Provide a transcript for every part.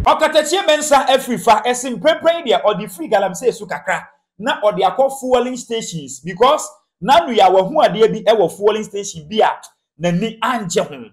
Ɔkatakyie Mensah afiri fa ɛse mprɛmprɛ yi deɛ ɔde firi galamsey so kakra na ɔde akɔ fuelling stations because n'ano yɛ a wahu adeɛ bi wɔ fuelling station bi a n'ani angye ho.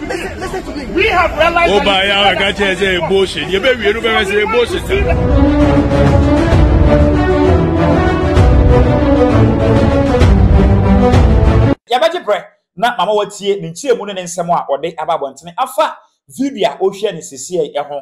Woba ya wa ka kyerɛ sɛ bullshit. Yɛ bɛ wie no bɛ sɛ bullshit. Yɛbɛgye brɛ na mama watie ne nkyerɛmu ne ne nsɛm a ɔde aba abɔntene afa video a ɔhwɛ ne sisiɛ ho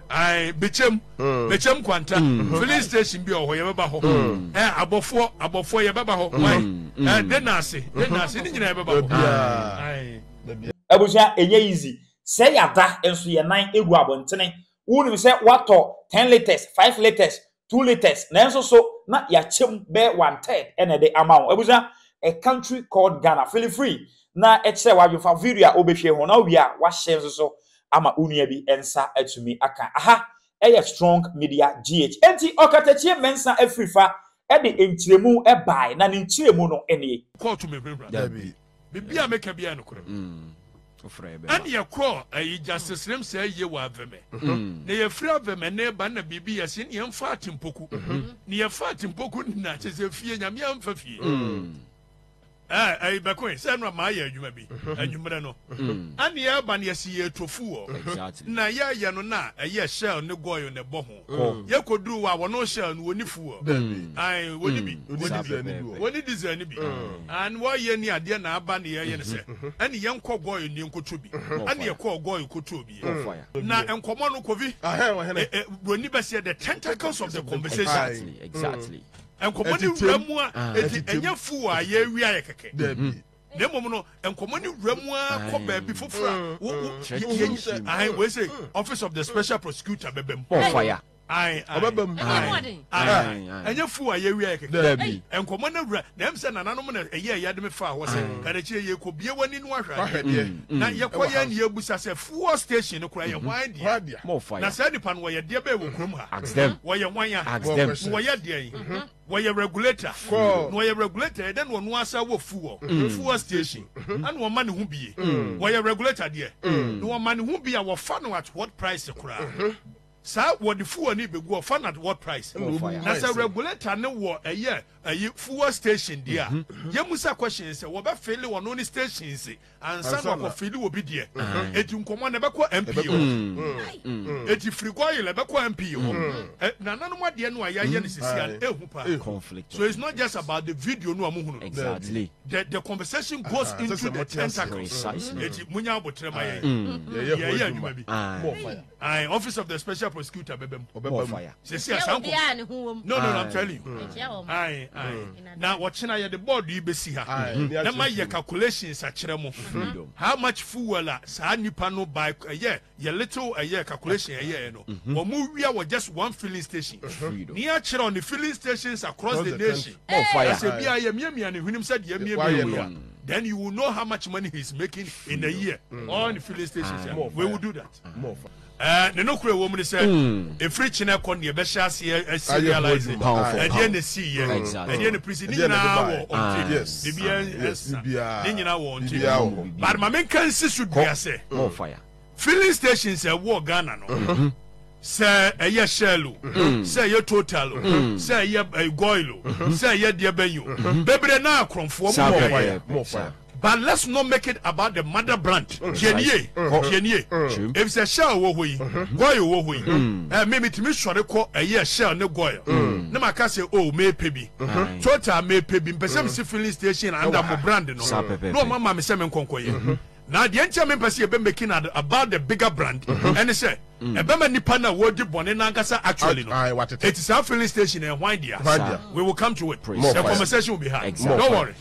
Ae, Bekyem, mm. Bekyem Kwanta, mm. filling station bi wɔ hɔ, yɛbɛba hɔ. Mm. Ɛ, abɔfoɔ, abɔfoɔ yɛbɛba hɔ. Wai, ɛ, de naase, de naase, ne nyinaa yɛbɛba hɔ. Ae. Abusua, ɛnyɛ easy. Sɛ yɛada nso yɛn nan egu abɔntene. Wonim sɛ watɔ ten litres, five litres, two litres nanso so na yɛakyɛ mu bɛyɛ one third na ɛde ama wo abusua a country called Ghana feel free na ɛkyerɛ w'adwene fa video a wobɛhwɛ ho na wowie a wahyɛ nso so ama wo nua bi nsa atumi aka aha ɛyɛ strong media gh enti ɔkatakyie mmensa afiri fa ɛde nkyerɛmu ɛbae na ne nkyerɛmu no nie. Kɔɔto mehwehwɛ. Dabi. Biribiara meka biara nokorɛ ɛne yɛkɔɔ ayi eh, justice nem sɛ ayie wɔ avɛmɛ mm-hmm. na yɛfiri avɛmɛ ne ba na biribi yɛse ne yɛmfa atempoku mm-hmm. ne yɛfa atempoku ne na kyɛ sɛ fie nyame amfa fie mm-hmm. eh, eh, bɛkɔe sɛ no ama ayɛ adwuma bi anwummerɛ no ɛne yɛba ne yɛse yɛtofu wɔ na yɛyɛ no na ɛyɛ shell ne goil ne bɔ ho kɔ. Yɛ kɔ duru wa wɔn ɔhyɛ no wɔn fu wɔ. Ayi wɔn bi wɔn ni diesel ni bi. An wɔyɛ ni adeɛ na aba ni yɛ yɛ ni sɛ. Ɛni yɛn kɔ gɔɔ ni nkoto bi. Ɛni yɛ kɔ gɔɔ koto bi. Na nkɔmɔ no kovi. Broni bɛ seɛ the tentacles of the conversation. Exactly exactly. Nkɔmɔ ni wura mu a eti ɛnyɛ fu wɔ a yɛ wia yɛ kɛkɛ. na mmom no nkɔmmɔ ne wura mu ara kɔ baabi foforɔ a mm. wo wo yɛnyi sɛ ahan wei sɛ mm. office of the special prosecutor bɛbɛ mu. bɔɔ faya. ayi ayi ɔbɛbɛ mu ayi ayi ɛnyɛ fu a yɛwia yɛ kɛkɛ. dɛbi nkɔmmɔ ne wura na ɛmu sɛ nananom na ɛyɛ ɛyɛ de mi fa hɔ sɛ kadakyire yɛ kɔ bie wɔ ne nu ahwɛ adeɛ na yɛkɔ yɛn ni ebusa sɛ fuel station no kura yɛ hwan deɛ na sɛ nipa no wɔyɛ deɛ bɛyɛ wɔ kurom ha wɔyɛ hwan ya wɔyɛ deɛ yi. Wɔyɛ regulator na ɔyɛ regulator yɛ dɛ na ɔno ara saa wɔ fuel fuel station ɛna ɔma ne ho bie wɔyɛ regulator deɛ na ɔma ne ho bie a wɔfa no at what price koraa saa wɔde fuel ne bɛgu ɔfa no at what price na sɛ regulator ne wɔ ɛyɛ ɛyi fuel station deɛ a yɛmu sa question sɛ wɔbɛfele ɔno ne stations ansa na ɔkɔ fili obi deɛ eti nkɔmɔ na ɛbɛkɔ mp hɔ mm. mm. mm. eti firi gɔyi la ɛbɛkɔ mp hɔ nananom adeɛ no a yɛayɛ no sisi a ehu pa so it's not just about the video no a mo hunu exactly the the conversation goes ah, into the tentacles eti mo nya abotire ma yɛ yɛyɛ adwuma bi ayi office of the special prosecutor bɛbɛ mu sisi asanko no no i'm telling you ayi ayi. Na ɔkyena yɛde board yi bɛsi ha na mayɛ calculations akyerɛ mo how much fuel a saa nipa no by ɛyɛ yɛ little ɛyɛ calculation ɛyɛɛ no wɔn wia wɔ just one filling station na yɛakyerɛw ne filling stations across the nation na sɛ bia yɛmiamia ne hwenem sɛ deɛ miamia no a then you will know how much money he is making in a year on filling stations we will do that. Ɛɛ, ne nokorɛ a ɛwɔ mu ne sɛ, ɛfiri kyena kɔ neɛ bɛhyɛ aseɛ asi realise ɛdeɛ na ɛsiiɛ, ɛdeɛ na prisi, ne nyinaa wɔ ɔnte, biribiara nsa, ne nyinaa wɔ ɔnte. But ma menka nsi so dua sɛ, filling stations a ɛwɔ Ghana no, sɛ ɛyɛ Shell o, sɛ ɛyɛ Total o, sɛ ɛyɛ Goil o, sɛ ɛyɛ deɛ bɛn o, bebree no ara korɔmfoɔ, wɔn mu biara yɛ. But let's not make it about the mother branch tie nie tie nie efisɛ shell wɔ hɔ yi goil wɔ hɔ yi ɛɛ mi mi ti mi sɔre kɔ ɛyɛ shell ne goil ne ma ka sɛ o mɛ pɛ bi total mɛ pɛ bi mpɛsɛ mi si filling station anda mo brand no na ɔma ma mi sɛ mi nkɔnkɔ yɛ na deɛ nti a mi mpɛ sɛ yɛ bɛ making ad about the bigger brand ɛne sɛ ɛbɛ ma nipa na wɔdi bɔnne nankasa actually no eti saa filling station ɛhwan dia we will come to it the conversation will be hard don't worry.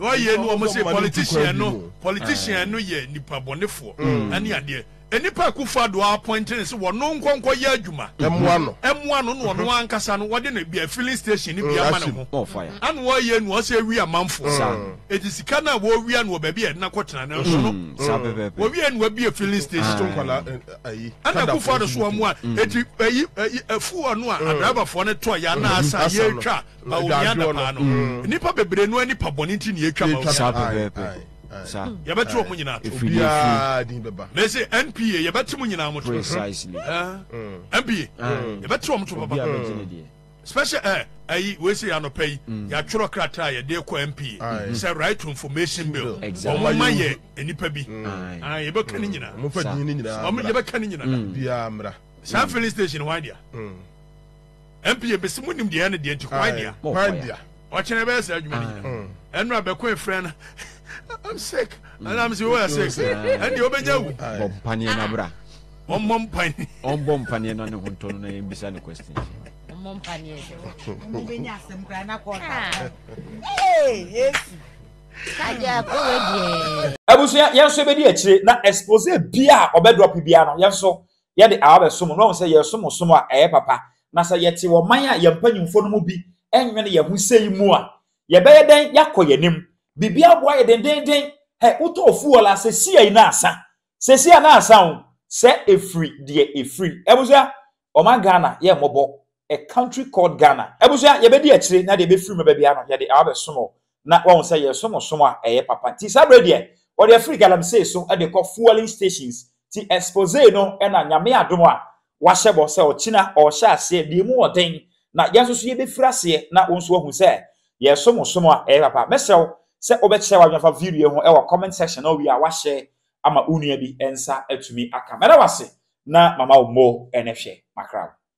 Wɔ yɛ no wɔn se politician no politician no yɛ nipa bɔnefoɔ ɛne adeɛ enipa akufo ado appoint ne se wɔno nkɔ nkɔ yɛ adwuma ɛmoa no ɛmoa no na ɔno ankasa no wɔde no bia filling station ne bia ma ne ho ɛna wɔ yɛ no ɔsɛ ewi amanfoɔ eti sika no a wɔ wia no wɔ baabi a ɛdena kɔ tena no nso no wɔ wia no wabie filling station ɛna akufo ado so wɔn a eti ɛyi ɛyi ɛfu ɔno a adriverfoɔ no tɔ yɛ ana asa yɛ twa a onua adapaa no nnipa mm. bebree no ani pa bɔne nti nea atwa ma yɛbɛte ɔmo nyinaa to mese npa yɛbɛte mo nyinaa mo to npa yɛbɛte ɔmo to papa special ɛ eh, ayi wese anɔpɛ yi mm. yɛatwerɛ krataa yɛde kɔ mpa sɛ right to information bill ɔmo ma yɛ nnipa bi mm. ah, yɛbɛka ne nyinaa yɛbɛka ne nyinaa mm. saa filling station hɔ adea Ɛnpi ebesi mo nim deɛ ɛne deɛ nti kwan dia. Kwan dia. Ɔkyɛn ɛbɛyɛ saa adwuma ni. Ɛnu abɛko efrɛ na. I'm sick. Ɛna mi si wo yɛ sick. Ɛni o bɛ nya wu. Bɔ mpaneɛ na bra. Ɔmɔ mpaneɛ. Ɔmɔ mpaneɛ na ne ho ntɔ no na yɛn bisa ne question. Ɔmɔ mpaneɛ. Ɔmɔ bɛ nya asɛm kura na kɔɔ ta. Ee Yesu. Kaja kɔ wɛ diɛ. Abusua yɛn nso ebedi akyire na expose bia ɔbɛ drop bia no yɛn nso. yɛde awa bɛsom no, na wɔn sɛ yɛresom ɔsom a ɛyɛ papa. Na sɛ yɛte wɔ ɔman a yɛn mpanyimfoɔ no mu bi nnwene yɛn ho sei mu a, yɛbɛyɛ dɛn yɛakɔ yɛn anim? Biribi aboa yɛn dendeenden. Hɛ, wotɔɔ fuel a, sesiei na asa. Sesiei a na asa o, sɛ ɛfiri deɛ ɛfiri. Abusua, ɔman Ghana, yɛ mmɔbɔ. A country called Ghana. Abusua, yɛbɛdi akyire na deɛ ɛbɛfiri mu ba biara no, yɛde awa bɛsom o. na wahu sɛ yɛresom ɔsom a ɛyɛ papa. Nti saa berɛ deɛ, wɔde afiri galamsey so de kɔ fuelling stations. Nti expose no na Nyame adom a wahyɛ bɔ sɛ ɔkyena ɔrehyɛ aseɛ deɛ ɛmu wɔ den, na yɛn nso so yɛbɛfiri aseɛ na wo nso wahu sɛ yɛresom ɔsom a ɛyɛ papa. Mɛsrɛ wo sɛ wobɛkyerɛ w'adwene afa video yi ho wɔ comment section na wowie a woashare ama wo nua bi nsa atumi aka. Mɛda wo ase na mama wo more ne hwɛ. Makra wo.